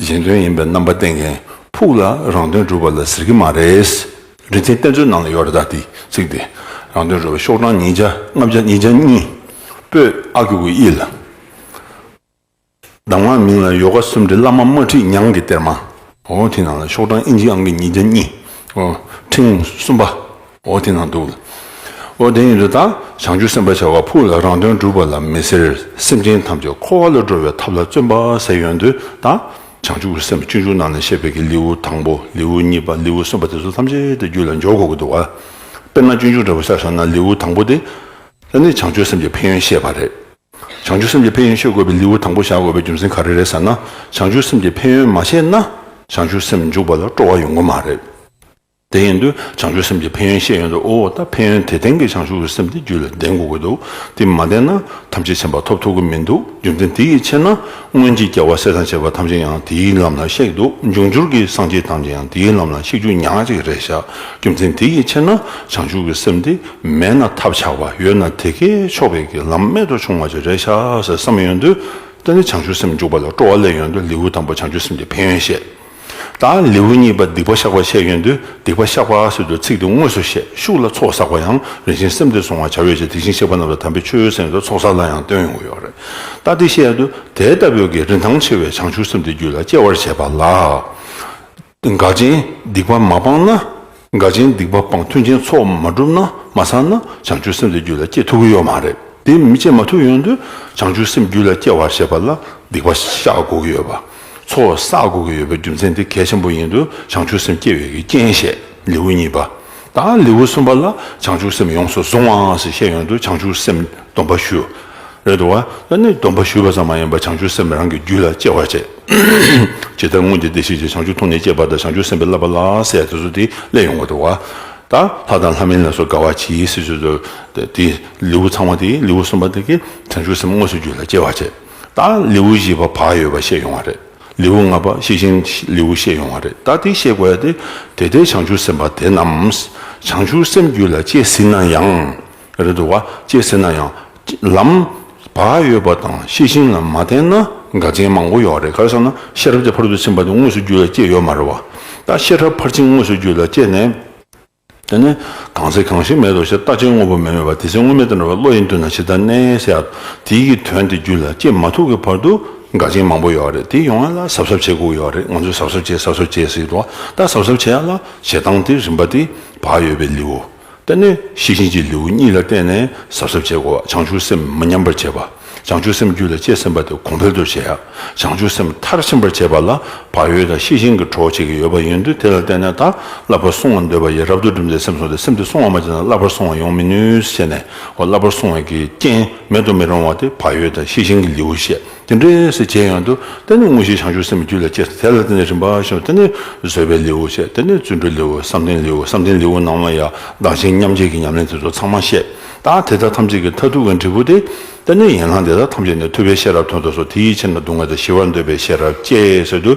གཞན་དོན་ཡིན་པའི་རྣམ་པ་བསྟན་མཁན་ཕུགས་ལ་རང་དོན་སྒྲུབ་པ་ལ་ཟེར་གྱི་མ་རེད། རིན་ཆེན་གཏེར་མཛོད་ནང་ལ་ཡོད་རེད་ད་དེ་ཚིག་དེ། རང་དོན་སྒྲུབ་པའི་ཤོག་གྲངས་ཉིས་བརྒྱ་ལྔ་བརྒྱ་ཉིས་བརྒྱ་གཉིས། པོད་ཨ་ཁུ་གུ་ཨི་ལ། གདམས་ངག་མིང་ལ་ཡོ་ག་གསུམ་བྲིས་བླ་མ་དམར་ཁྲིད་ཉང་གི་གཏེར་མ། ཨོ། དེ་ནང་ལ་ཤོག་གྲངས་ཨིན་ཇི་ཨང་གི་ཉིས་བརྒྱ་གཉིས། ཨོ། ཕྲེང་གསུམ་པ། ཨོ་དེ་ན་འདུག། ཨོ་དེ་ཡིན་དུ་ད་བྱང་ཆུབ་སེམས་དཔའ་བྱ་བ་ཕུགས་ལ་རང་དོན་སྒྲུབ་པ་ལ་མི་ཟེར་སེམས་ཅན་ཐམས་ཅད་འཁོར་བ་ལ་འགྲོ་བའི་ཐབས་ལ་བརྩོན་པ་ཟེར་ཡོན་དུ་ད་བྱང་ཆུབ་སེམས་དཔའ་སྤྱོད་འཇུག་རྣམས་ལས་བཤད་པའི་གི་ལེའུ་དང་པོ་ལེའུ་གཉིས་པ་ལེའུ་གསུམ་པ་དེ་ཚོ་ཐམས་ཅད་དེ་རྒྱུད་ལ་འཇོག་དགོས་ཀྱི་འདུག་དཔེར་ན་སྤྱོད་འཇུག་འདྲ་བོ་ཤར་སོང་ན་ལེའུ་དང་པོ་དེ་ལ་ནི་བྱང་ཆུབ་སེམས་ཀྱི་ཕན་ཡོན་བཤད་པ་རེད། བྱང་ཆུབ་སེམས་ཀྱི་ཕན་ཡོན་ཤོད་དགོས་པའི་ལེའུ་དང་པོ་བཞག་དགོས་པའི་རྒྱུ་མཚན་ག་རེ་རེད་ཟེར་ན་བྱང་ཆུབ་སེམས་ཀྱི་ཕན་ཡོན་མ་བཤད་ན་བྱང་ཆུབ་སེམས་འཇུག་པ་ལ་སྤྲོ་བ་ཡོང་གི་མ་རེད། དེ་ཡིན་དུས་བྱང་ཆུབ་སེམས་ཀྱི་ཕན་ཡོན་ཤེས་ཡོན་དུ་དབུལ་བ་དང་ཕན་ཡོན་དེ་ལྡན་གྱི་བྱང་ཆུབ་སེམས་དེ་རྒྱུད་ལ་ལྡན་དགོས་ཀྱི་འདུག་དེ་མ་ལྡན་ན་ཐམས་ཅད་བྱམས་པ་ཐོབ་ཐུབ་ཀྱི་མི་འདུག་རྒྱུ་མཚན་དེ་ཡི་ཕྱིར་ན་སྔོན་གྱི་རྒྱལ་བ་སྲས་དང་བཅས་པ་ཐམས་ཅད་ཡང་དེའི་ལམ་ལ་གཤེགས་འདུག་འབྱུང་འགྱུར་གྱི་སངས་རྒྱས་ཐམས་ཅད་ཡང་དེའི་ལམ་ལ་གཤེགས་རྒྱུ་ཉག་གཅིག་རེད་བཞག་རྒྱུ་མཚན་དེ་ཡི་ཕྱིར་ན་བྱང་ཆུབ་ཀྱི་སེམས་དེ་མེད་ན་ཐབས་ཆག་པ་ཡོད་ན་དེ་ཁའི་ཕྱོགས་བས་ཀྱི་ལམ་རྨད་དུ་བྱུང་བ་ཅིག་རེད་བཞག་ཟེར་བསམ་ཡོན་དུ་བསྟན་ཏེ་བྱང་ཆུབ་སེམས་འཇུག་པ་ལ་སྤྲོ་བ་སླད་ཡོན་དུ་ལེའུ་དང་པོ་བྱང་ཆུབ་སེམས་ཀྱི་ཕན་ཡོན་བཤད། དང། ལེའུ་གཉིས་པ་སྡིག་པ་བཤགས་པའི་ཆས་ཡོན་ཏུ་སྡིག་པ་བཤགས་པ་སོད་དུ་ཚིག་དེ་དངོས་སུ་བཤད་ཤུགས་ལ་ཚོགས་བསགས་པ་ཡང་རིན་ཆེན་སེམས་སྡེ་སྲུང་བར་བྱ་བའི་ཆེད་དེ་བཞིན་གཤེགས་པ་རྣམས་ལ་དམ་པའི་མཆོད་ཡོན་གསན་ཡོད་དོ་ཚོགས་བསགས་ལ་ཡང་སྟོན་ཡོང་གི་ཡོད་རེད་ད་སྡིག་བཤད་ཡོད་དོ་དེ་ལྟ་བུའི་གི་རིན་ཐང་ཆེ་བའི་བྱང་ཆུབ་སེམས་དེ་རྒྱུད་ལ་སྐྱེ་བར་བྱེད་པ་ལ། འགག་ཅིང་སྡིག་པ་མ་སྤངས་ན། དགའ་ཆེན་སྡིག་པ་སྤངས་མཐུན་ཆེན་ཚོགས་མ་བསྒྲུབས་ན་མ་ཚང་ན་བྱང་ཆུབ་སེམས་དེ་རྒྱུད་ལ་སྐྱེ་ཐུབ་ཀྱི་ཡོད་མ་རེད་དེ་མི་སྐྱེ་མ་ཐུབ་ཡོང་དུས་བྱང་ཆུབ་སེམས་རྒྱུད་ལ་སྐྱེ་བར་བྱེད་པ་ལ་སྡིག་པ་བཤགས་དགོས་ཀྱི་ཡོད་པ། ཚོགས་བསགས་དགོས་ཀྱི་ཡོད་པའི་རྒྱུ་མཚན་དེ་གལ་ཆེན་པོ་ཡིན་དུས་བྱང་ཆུབ་སེམས་སྐྱེ་བའི་གི་རྐྱེན་བཤད་ལེའུ་གཉིས་པ་དང་ལེའུ་གསུམ་པ་ལ་བྱང་ཆུབ་སེམས་ཡོངས་སུ་བཟུང་བའང་ཞེས་བཤད་ཡོང་དུས་བྱང་ཆུབ་སེམས་སྡོམ་པ་ཞུ། རེད་དོ། ད་ནི་སྡོམ་པ་ཞུས་པ་ཙམ་མ་ཡིན་པར་བྱང་ཆུབ་སེམས་རང་གི་རྒྱུད་ལ་སྐྱེ་བར་བྱེད། ཇི་ལྟར་སྔོན་གྱི་བདེ་གཤེགས་ཀྱི་བྱང་ཆུབ་མཐོང་ནས་སྐྱེས་པ་དང་བྱང་ཆུབ་སེམས་དཔའི་བསླབ་པ་ལ་སའི་དུས་སུ་དེ་སླད་ཡོང་བར་འགྲོ་བ། ད་ལྷ་དང་ལྷ་མིན་ལ་སོགས་དགའ་བ་ཇི་སྲིད་སུ་འདུག་དེ། ལེའུ་ཚང་བ་དེའི་ལེའུ་གསུམ་པ་དེ་གའི་བྱང་ཆུབ་སེམས་དངོས་སུ་རྒྱུད་ལ་སྐྱེ་བར་བྱེད། ད་ལེའུ་བཞི་པ་བག་ཡོད་པ་བཤད་ཡོང་བ་རེད། ལེའུ་ལྔ་པ་གཤེགས་ཤིང་ལེའུ་བཤད་ཡོང་བ་རེད་ད་དེ་བཤད་དགོས་ཡ་དེ། དེ་ལྟའི་བྱང་ཆུབ་སེམས་དཔའ་དེ་རྣམས་བྱང་ཆུབ་སེམས་རྒྱུད་ལ་སྐྱེ་སྲིད་ན་ཡང། རེད་འདུག་བ་ཅེས་ཟེར་ན་ཡང། ལམ། བག་ཡོད་པ་དང་ཤེས་བཞིན་ལ་མ་བརྟེན་ན་དགའ་ཆེན་མང་པོ་ཡོད་རེད་ག་རེ་བསམ་ན་ཤེས་རབ་ཀྱི་ཕར་དུ་ཕྱིན་པ་དེ་དངོས་སུ་རྒྱུད་ལ་སྐྱེས་ཡོད་མ་རེད་བ། ད་ཤེས་རབ་ཕར་ཕྱིན་དངོས་སུ་རྒྱུད་ལ་སྐྱེས་ནས། དེ་ནས་གང་ཚེ་གང་ཞིག་མེད་དོ་ཞེས་ལྟ་ཅན་དངོས་པོ་མེད་མོད་བ་དེ་ཚེ་དངོས་མེད་དུ་འགྲོ་བའི་བློ་ཡིན་དུས་ན་ཇི་ལྟར་གནས་ཡིན་གསལ། དེའི་གི་དོན་དེ་རྒྱུད་ལ་སྐྱེས་མ་ཐུབ་ཀྱི་བར་དུ་དགའ་ཆེན་མང་པོ་ཡོད་རེད་དེ་ཡོང་ཡ་ལ་གཟབ་གཟབ་བྱེད་དགོས་ཡོད་རེད་ང་ཚོས་གཟབ་གཟབ་བྱས་གཟབ་གཟབ་བྱས་ཟེར་གི་འདུག་བ་ད་གཟབ་གཟབ་བྱས་ཡ་ལ་བྱེད་སྟངས་དེ་རིམ་པ་དེ་བག་ཡོད་པའི་ལེའུ་བསྟན་ནས་ཤེས་བཞིན་གྱི་ལེའུ་གཉིས་ལ་བརྟེན་ནས་ཟབ་ཟབ་བྱེད་དགོས་པ་བྱང་ཆུབ་སེམས་མི་ཉམས་པར་བྱེད་པ། བྱང་ཆུབ་སེམས་རྒྱུད་ལ་སྐྱེས་ཟིན་པ་དེ་གོང་འཕེལ་དུ་བྱེད་ཡ། བྱང་ཆུབ་སེམས་མཐར་ཕྱིན་པར་བྱེད་པ་ལ་བག་ཡོད་དང་ཤེས་བཞིན་གྱི་གྲོགས་བྱེད་ཀྱི་ཡོད་པ་ཡིན་དུས་དེ་ལ་བརྟེན་ནས་དང་བསླབ་པར་སོང་བར་འདོད་པ་ཡི་རབ་ཏུ་བསྒྲིམས་ཏེ་སེམས་བཟུང་སྟེ་སེམས་དེ་སོང་བ་མ་བྱས་ན་བསླབ་པར་སོང་བ་ཡོང་མི་ནུས་ཞེས་ནས་བསླབ་པར་སོང་བ་ཀྱི་རྐྱེན་མེད་དུ་མི་རུང་བ་དེ་བག་ཡོད་དང་ཤེས་བཞིན་གྱི་ལེའུ་བཤད། དེ་འདྲའི་སྲིད་བྱེད་ཡང་དུ་དེ་ནི་དངོས་གཞི་བྱང་ཆུབ་སེམས་རྒྱུད་ལ་སྐྱེ། དེ་ལ་དེ་ནི་རིམ་པ་བཞི་དང་དེ་ནི་བཟོད་པའི་ལེའུ་ཞེས་དེ་ནི་བརྩོན་འགྲུས་ལེའུ་བསམ་གཏན་ལེའུ་བསམ་གཏན་ལེའུ་ནང་ན་ཡང་བདག་གཞན་མཉམ་བརྗེ་གི་ཉམས་ལེན་དེ་ཚོ་ཚང་མ་བཤད། ད་དེ་དག་ཐམས་ཅད་ཀྱི་མཐར་ཐུག་གི་འབྲས་བུ་སྟེ། དེ་ནི་ཡན་ལག་འདི་དག་ཐམས་ཅད་ནས་ཐོས་པའི་ཤེས་རབ་ཐོས་དོགས་སོགས་དེའི་ཕྱིར་ན་སྡུག་བསྔལ་དང་ཞི་བར་འདོད་པའི་ཤེས་རབ་སྐྱེ་སྲིད་དུ་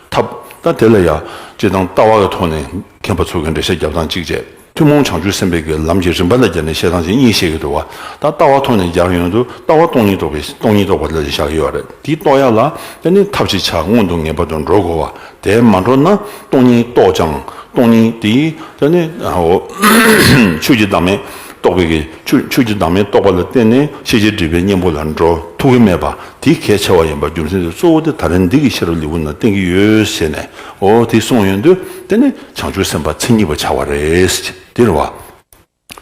ཐབས། ད་དེ་ལ་ཡང་སྤྱི་དང་ལྟ་བ་ཀྱི་ཐོག་ནས་མཁས་པ་ཚོ་གི་འགྲེལ་བཤད་རྒྱབ་སྟངས་གཅིག་བྱས། ཐུན་མོང་བྱང་ཆུབ་སེམས་དཔའི་གྱི་ལམ་གྱི་རིམ་པ་ལ་སྦྱར་ནས་བཤད་སྟངས་ཅན་གཉིས་བཤད་ཀྱི་འདུག་བ། ད་ལྟ་བ་ཐོག་ནས་སྦྱར་ཡོང་དུ་ལྟ་བ་སྟོང་ཉིད་རྟོགས་པའི་སྟོང་ཉིད་རྟོགས་པ་ལ་ལས་བཞག་ཡོད་བ་རེད་དེའི་རྟོགས་ཡ་ལ་ཡ་ནི་ཐབས་ཅིག་ཆ་མངོན་དུ་ངེས་པར་དུ་འགྲོ་དགོས་བ་དེ་མ་འགྲོ་ན་སྟོང་ཉིད་རྟོགས་ཀྱང་སྟོང་ཉིད་དེའི་ཡ་ནི་འོ། ཆོས་ཀྱི་བདག་མེད་རྟོགས་པའི་གྱི་ཆོས་ཆོས་ཀྱི་བདག་མེད་རྟོགས་པ་ལ་བརྟེན་ནས་ཤེས་བྱའི་སྒྲིབ་པའི་གཉེན་པོ་ལ་འགྲོ་ཐུག་གི་མེད་པ་དེ་གལ་ཆེ་བ་ཡིན་པ་རྒྱུ་མཚན་དེ་གཙོ་བོ་དེ་ད་རིན་འདི་གི་ཤེས་རབ་ལེའུ་ན་བསྟན་གྱི་ཡོད་ཟེར་ནས་འོ་དེ་གསུངས་ཡོང་དུ་དེ་ནི། བྱང་ཆུབ་སེམས་དཔའ་མཚན་ཉིད་པར་བྱ་བ་རེད། དེར་བ།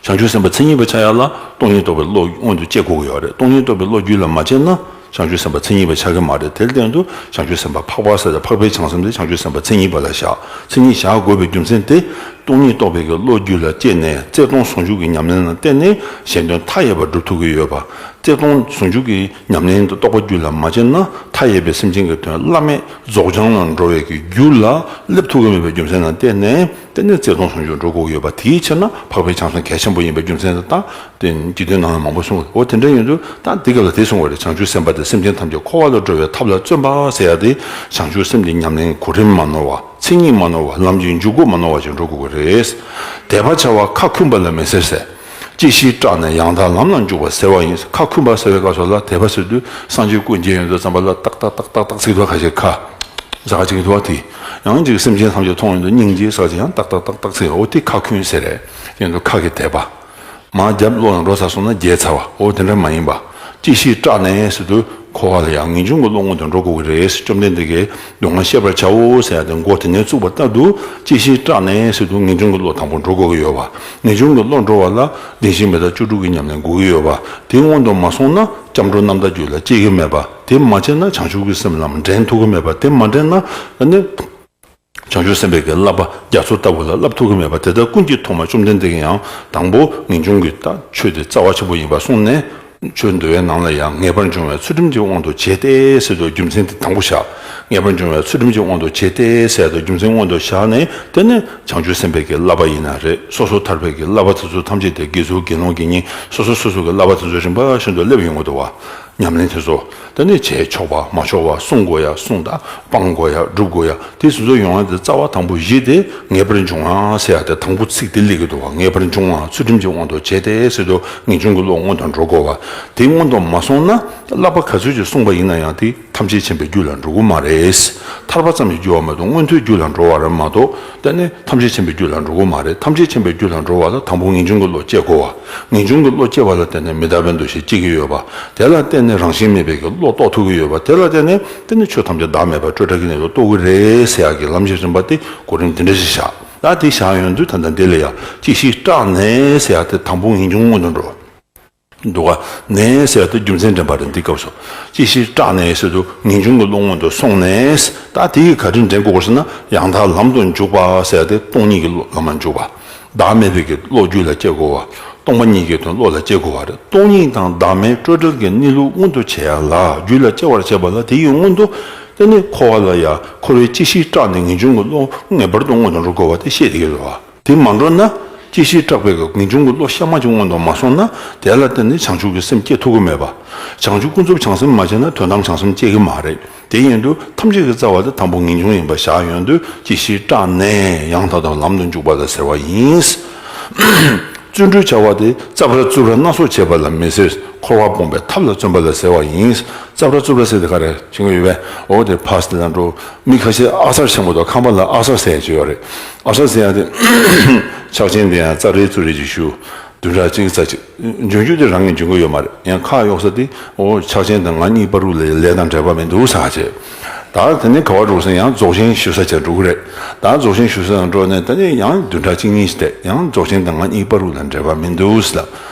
བྱང་ཆུབ་སེམས་དཔའ་མཚན་ཉིད་པར་བྱ་ཡག་ལ་སྟོང་ཉིད་རྟོགས་པའི་བློ་སྔོན་དུ་སྤྱད་དགོས་ཀྱི་ཡོད་རེད་སྟོང་ཉིད་རྟོགས་པའི་བློ་རྒྱུད་ལ་མ་བྱས་ན་བྱང་ཆུབ་སེམས་དཔའ་མཚན་ཉིད་པར་ཆགས་ཀྱི་མ་རེད་དེར་བརྟེན་དུ་བྱང་ཆུབ་སེམས་དཔའ་འཕགས་པ་ས་ལས་འཕགས་པའི་བྱང་སེམས་དེ་བྱང་ཆུབ་སེམས་དཔའ་མཚན་ཉིད་པ་ལ་བཞག་མཚན་ཉིད་བཞག་དགོས་པའི་རྒྱུ་མཚན་དེ་སྟོང་ཉིད་རྟོགས་པའི་གི་བློ་རྒྱུད་ལ་སྐྱེས་ནས་རྩལ་སྟོང་ཟུང་འཇུག་གི་ཉམས་ལེན་ལ་བརྟེན་ནས་གཞན་དོན་མཐའ་ཡས་པར་སྒྲུབ་ཐུབ་ཀྱི་ཡོད་པ་རྩལ་སྟོང་ཟུང་འཇུག་གི། ཉམས་ལེན་དུ་རྟོགས་པ་རྒྱུད་ལ་མ་ཆད་ན་མཐའ་ཡས་པའི་སེམས་ཅན་གྱི་དོན་བླ་མེད་རྫོགས་བྱང་ལ་འགྲོ་བས་ཀྱི་རྒྱུ་ལ་སླེབས་ཐུབ་ཀྱི་མེད་པའི་རྒྱུ་མཚན་དང་གཏན་ནས་བརྩེ་དུང་ཟུང་འཇུག་འགྲོ་དགོས་ཀྱི་ཡོད་པ་དེའི་ཕྱིར་ན་འཕགས་པའི་བྱང་སེམས་གལ་ཆེན་པོ་ཡིན་པའི་རྒྱུ་མཚན་དང་རྟེན་གྱི་དོན་སྣང་བའི་མང་པོ་གསུངས་པ་འོ་དེ་འདྲ་ཡིན་དུས་ད་འདི་སྐབས་ལ་དེ་གསུངས་བ་རེད་བྱང་ཆུབ་སེམས་དཔའ་དེ་སེམས་ཅན་ཐམས་ཅད་འཁོར་བ་ལ་འགྲོ་བའི་ཐབས་ལ་བརྩོན་པ་ཟེར་ཡག་སྟེ་བྱང་ཆུབ་སེམས་དེ་ཉམས་ལེན་གོ་རིམ་མ་ནོར་བ་མཚན་ཉིད་མ་ནོར་བ་ལམ་གྱི་འཇུག་སྒོ་མ་ནོར་བ་ཞིག་འགྲོ་དགོས་ཀྱི་རེད། དད་པ་བྱ་བ་ཁ་འཁུམས་པ་ལ་མི་ཟེར་ཟེར། ཅི་ཞིག་སྐྲག་ནས་ཡང་དག་ལམ་ལ་འཇུག་པ་ཟེར་བ་ཡིན། ཁ་འཁུམས་པ་ཟེར་བའི་སྐབས་སུ་ལ་དད་པ་ཟེར་དུས་སངས་རྒྱས་སྐུ་མཇལ་ཡོན་དུ་བརྩམས་པ་ལ་ཏག་ཏག་ཏག་ཏག་ཏག་ཚིག་དོ་ཁ་ཅིག་ཁ། ཟ་ཁ་ཅིག་གིས་དུ་བ་ཐི། ཡང་ཅིག་སེམས་ཅན་ཐམས་ཅད་མཐོང་ཡོན་དུ་སྙིང་རྗེའི་ཟ་ཅིག་ཡང་ཏག་ཏག་ཏག་ཏག་ཚིག་ཨོ་ཐི་ཁ་ཁུན་ཟེར། ཡོན་དུ་ཁ་གི་དད་པ། མ་བརྒྱབ་བློ་ཡང་འགྲོ་ཚར་སོང་ན་རྒྱལ་ཚར་བ་འོ་དེ་འདྲ་མ་ཡིན་པ། ཅིག་ཤེས་སྐྲག་ནས་དུ་འཁོར་བ་ལ་ཡང་ངེས་འབྱུང་གི་བློ་ངོ་དང་འགྲོགས་དགོས་ཀྱི་རེད་བཅོམ་ལྡན་འདས་ཀྱིས་སྡུག་བསྔལ་ཤེས་པར་བྱའོ་ཟེར་ཏེ་མགོ་དེ་ནས་བཙུགས་པ་ལྟར་དུ་ཅིག་ཤེས་སྐྲག་ནས་དུ་ངེས་འབྱུང་གི་བློ་དང་པོ་འགྲོ་དགོས་ཀྱི་ཡོད་པ་ངེས་འབྱུང་གི་བློ་འགྲོ་བ་ལ་བདེན་བཞི་མེད་ད་བཅུ་དྲུག་གི་ཉམས་ལེན་དགོས་ཀྱི་ཡོད་པ་དེ་སྔོན་དུ་མ་སོང་ན་སྐྱབས་འགྲོ་རྣམ་དག་རྒྱུད་ལ་སྐྱེ་གི་མེད་པ་དེ་མ་བྱས་ན་བྱང་ཆུབ་ཀྱི་སེམས་ལམ་འདྲེན་ཐུབ་ཀྱི་མེད་པ་དེ་མ་འདྲེན་ན་ནི། བྱང་ཆུབ་སེམས་དཔའ་གྱི་བསླབ་པ་རྒྱ་མཚོ་ལྟ་བུ་ལ་བསླབ་ཐུབ་ཀྱི་མེད་པ་དེ་དག་ཀུན་གྱིས་མཐོང་བ་བཅོམ་ལྡན་འདས་ཀྱིས་ཡང་དང་པོ་ངེས་འབྱུང་གི་ཆོས་དེ་རྩ་བ་ཆེན་པོ་ཡིན་པར་གསུངས་ནས། ཆོས་འདུལ་བའི་ནང་ལ་ཡང་ངེས་པར་འབྱུང་བའི་ཚུལ་ཁྲིམས་ཀྱི་དབང་དུ་བྱས་ཏེ་བསལ་ཏོ་རྒྱུ་མཚན་དེ་དང་པོ་བཞག། ངེས་པར་འབྱུང་བའི་ཚུལ་ཁྲིམས་ཀྱི་དབང་དུ་བྱས་ཏེ་བསལ་ཏོ་རྒྱུ་མཚན་སྔོན་དུ་བཞག་ནས་དེ་ནི་བྱང་ཆུབ་སེམས་དཔའ་གྱི་བསླབ་པ་ཡིན་ན་རེ་སོ་སོ་ཐར་པའི་གྱི་བསླབ་པ་དེ་ཚོ་ཐམས་ཅད་དེ་དགེ་ཚུལ་དགེ་སློང་གི་གཉིས་སོ་སོ་སོ་སོ་གྱི་བསླབ་པ་དེ་ཚོ་རིམ་པ་བཞིན་དུ་སླེབ་ཡོང་གི་འདུག་བ། ཉམས་ལེན་དེ་ཚོ་ད་ནས་བྱས་ཆོག་པ་མ་ཆོག་པ་གསུང་དགོས་ཡ་གསུང་དང་སྤང་དགོས་ཡ་སྒྲུབ་དགོས་ཡ་དེ་ཟིན་ཚོ་ཡོང་ཡ་དེ་རྩ་བ་དང་པོ་བཞི་དེ་ངེས་པར་འབྱུང་ང་ཟེར་ཡ་དེ་དང་པོ་ཚིག་དེ་ལས་ཀྱི་དུ་བ་ངེས་པར་འབྱུང་ང་ཚུལ་ཁྲིམས་ཀྱི་དབང་དུ་བྱས་ཏེ་ཟེར་དུ་ངེས་འབྱུང་གི་བློ་སྔོན་དུ་འགྲོ་དགོས་བ་དེ་སྔོན་དུ་མ་སོང་ན་བསླབ་པ་ག་ཚོད་ཅིག་གསུངས་པ་ཡིན་ན་ཡང་དེ་ཐམས་ཅད་མཁྱེན་པའི་རྒྱུད་ལ་འགྲོ་གི་མ་རེད་ཐར་པ་ཙམ་གྱི་རྒྱུ་བ་མ་གཏོགས་མངོན་མཐོའི་རྒྱུད་ལ་འགྲོ་བར་མ་གཏོགས། ད་ནི་ཐམས་ཅད་མཁྱེན་པའི་རྒྱུད་ལ་འགྲོ་གོ་མ་རེད་ཐམས་ཅད་མཁྱེན་པའི་རྒྱུད་ལ་འགྲོ་བ་ལ་དང་པོ་ངེས་འབྱུང་གི་བློ་སྐྱེ་དགོས་བ། ངེས་འབྱུང་གི་བློ་སྐྱེ་བ་ལ་བརྟེན་ནས་མི་རྟག་པའི་འདུ་ཤེས་སྐྱེ་གི་ཡོད་བ། དེ་ལ་བརྟེན་ནས་རང་བཞིན་མེད་པའི་གི་བློ་རྟོགས་ཐུབ་ཀྱི་ཡོད་བ་དེ་ལ་བརྟེན་ནས་དེ་ནི་ཆོས་ཐམས་ཅད་བདག་མེད་པར་སྤྲོས་བྲལ་གྱི་གནས་སུ་རྟོགས་ཀྱི་རེད་ཟེར་ཡག་གི་ལམ་གཞི་རིམ་པ་སྟེ་གོ་རིམ་འདི་འདྲ་ཞིག་བཞག་ད་དེ་བཞག་ཡོང་དུས་ད་ལྟ་འདི་ལ་ཡག་ཅིག་ཞིག་སྐྲག་ནས་ཟེར་ཡག་དེ་དང་པོ་ངེས་འབྱུང་སྔོན་དུ་འགྲོ། འདུག་ག་ནས་ཟེར་ཏེ་རྒྱུ་མཚན་དྲན་པ་རེད་འདི་སྐབས་སུ་ཅི་ཞིག་སྐྲག་ནས་ཟེར་དུ་ངེས་འབྱུང་གི་བློ་སྔོན་དུ་སོང་ནས་ད་དེ་ཡིས་ག་རེ་འདྲེན་དགོས་ཟེར་ན་ཡང་དག་ལམ་དུ་འཇུག་པ་ཟེར་ཏེ་སྟོང་ཉིད་ཀྱི་བློ་ལམ་ལ་འཇུག་པ། བདག་མེད་བོད་ཀྱི་བློ་རྒྱུད་ལ་སྐྱེ་དགོས་བ། སྟོང་པ་ཉིད་ཀྱི་དོན་བློ་ལ་སྐྱེ་དགོས་བ་རེད་སྟོང་ཉིད་དང་བདག་མེད་སྤྲོས་བྲལ་གྱི་གནས་ལུགས་མངོན་དུ་བྱས་ཡ་ལ་རྒྱུད་ལ་སྐྱེ་བར་བྱས་པ་ལ་དེ་ཡི་སྔོན་དུ་དེ་ནི་འཁོར་བ་ལ་ཡ་འཁོར་བའི་ཅི་ཞིག་སྐྲག་ནས་ངེས་འབྱུང་གི་བློ་ངེས་པར་དུ་སྔོན་དུ་འགྲོ་དགོས་བ་དེ་ཤེས་དགོས་བ། དེ་མ་འགྲོ་ན། སྐྱེ་ཤིའི་སྐྲག་པས་གང་བྱུང་གི་བློ་གཤའ་མ་ཅིག་མངོན་དུ་མ་སོང་ན་དེ་ལ་བརྟེན་ནས་བྱང་ཆུབ་ཀྱི་སེམས་བསྐྱེད་ཐུབ་ཀྱི་མེད་པ། བྱང་ཆུབ་ཀུན་རྫོབ་བྱང་སེམས་མ་བྱས་ན་དོན་དམ་བྱང་སེམས་བསྐྱེད་ཀྱི་མ་རེད། དེ་ཡིན་དུས་ཐམས་ཅད་ཀྱི་རྩ་བ་དེ་དང་པོ་ངེས་འབྱུང་ཡིན་པ་བཞག་ཡོང་དུས་སྐྱེ་ཤིའི་སྐྲག་ནས་ཡང་དག་དང་ལམ་དུ་འཇུག་པ་ལ་ཟེར་བ་ཡིན། བརྩོན་འགྲུས་བྱ་བ་དེ་རྩ་བར་རྩུབ་ར་སྣ་ཚོགས་བྱེད་པ་ལ་མི་ཟེར་འཁོར་བ་སྤོང་པའི་ཐབས་ལ་བརྩོན་པ་ལ་ཟེར་བ་ཡིན། རྩ་བར་རྩུབ་ར་ཟེར་དེ་ག་རེ་བྱེད་ཀྱི་ཡོད་པས་འོ་དེ་ཕ་ཟེར་ན་འགྲོ། མི་ཁ་ཤས་ཨག་གསར་ཆེན་པོ་དང་ཁམས་པ་ལ་ཨག་གསར་ཟེར་ཡང་ཅི་ཡོད་རེད། ཨ་ཧྲ་ཟེར་ཡག་དེ། ཕྱག་ཆེན་དེ་ཡང་རྩ་རེ་རྩུབ་རེ་ཅིག་ཞུ། བདུན་ཕྲག་གཅིག་གི་རྩ་ཆེ། འབྱུང་འགྱུར་དེ་རང་གིས་འབྱུང་གི་ཡོད་མ་རེད་ཡང་ཁ་གཡོག་ས་དེ། འོ་ཕྱག་ཆེན་དང་ང་གཉིས་པ་རུ་ལས་ལས་དང་འབྲེལ་བ་མི་འདུག་ཟ་བྱས། ད་དེ་ནས་ག་བ་འགྲོ་ཟིན་ཡང་རྫོགས་ཆེན་ཞུ་ས་བྱས་འགྲོ་གི་རེད། ད་རྫོགས་ཆེན་ཞུ་ས་དང་འགྲོ་ནས་ད་ནི་ཡང་བདུན་ཕྲག་གཅིག་གཉིས་ཟད་ཡང་རྫོགས་ཆེན་དང་ང་གཉིས་པ་རུ་ལ་འབྲེལ་བ་མི་འདུག་ཟེར།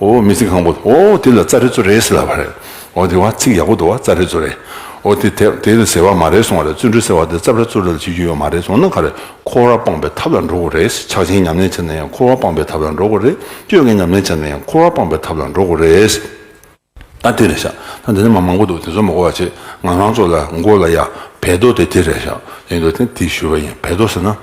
ཨོ་མི་ཚིག་ཁང་པོ་ཨོ་དེ་ལ་ཙརེ་ཙོ་རེ་ཟེར་ལབ་པ་རེད། ཨོ་དེ་བ་ཚིག་ཡག་པོ་འདུག་བ་ཙརེ་ཙོ་རེ། ཨོ་དེ་དེབ་དེ་ལ་ཟེར་བ་མ་རེད་སོང་བ་རེད་བརྩོན་འགྲུས་ཟེར་བ་དེ་ཙབ་ར་ཙུབ་ར་ལ་བྱེད་རྒྱུ་ཡོད་མ་རེད་སོང་ན་ག་རེད་འཁོར་བ་སྤངས་པའི་ཐབས་ལ་འགྲོ་དགོས་རེད་ཕྱག་ཆེན་ཉམས་ལེན་བྱེད་ན་ཡང་འཁོར་བ་སྤངས་པའི་ཐབས་ལ་འགྲོ་དགོས་རེད་བསྐྱོད་མཁན་ཉམས་ལེན་བྱེད་ན་ཡང་འཁོར་བ་སྤངས་པའི་ཐབས་ལ་འགྲོ་དགོས་རེད། ད་དེ་རེད་ཤག་ད་འདི་ནས་མ་མང་པོ་འདུག་དེ་ཚོ་མ་གོ་བ་བྱེད་ང་རང་ཚོ་ལ་མགོ་ལ་ཡ་བལ་རྡོ་དེ་དེ་རེད་ཤག་ཡིན་འདུག་དེ་ཞུས་པ་ཡིན་བལ་རྡོ་ཟེར་ན།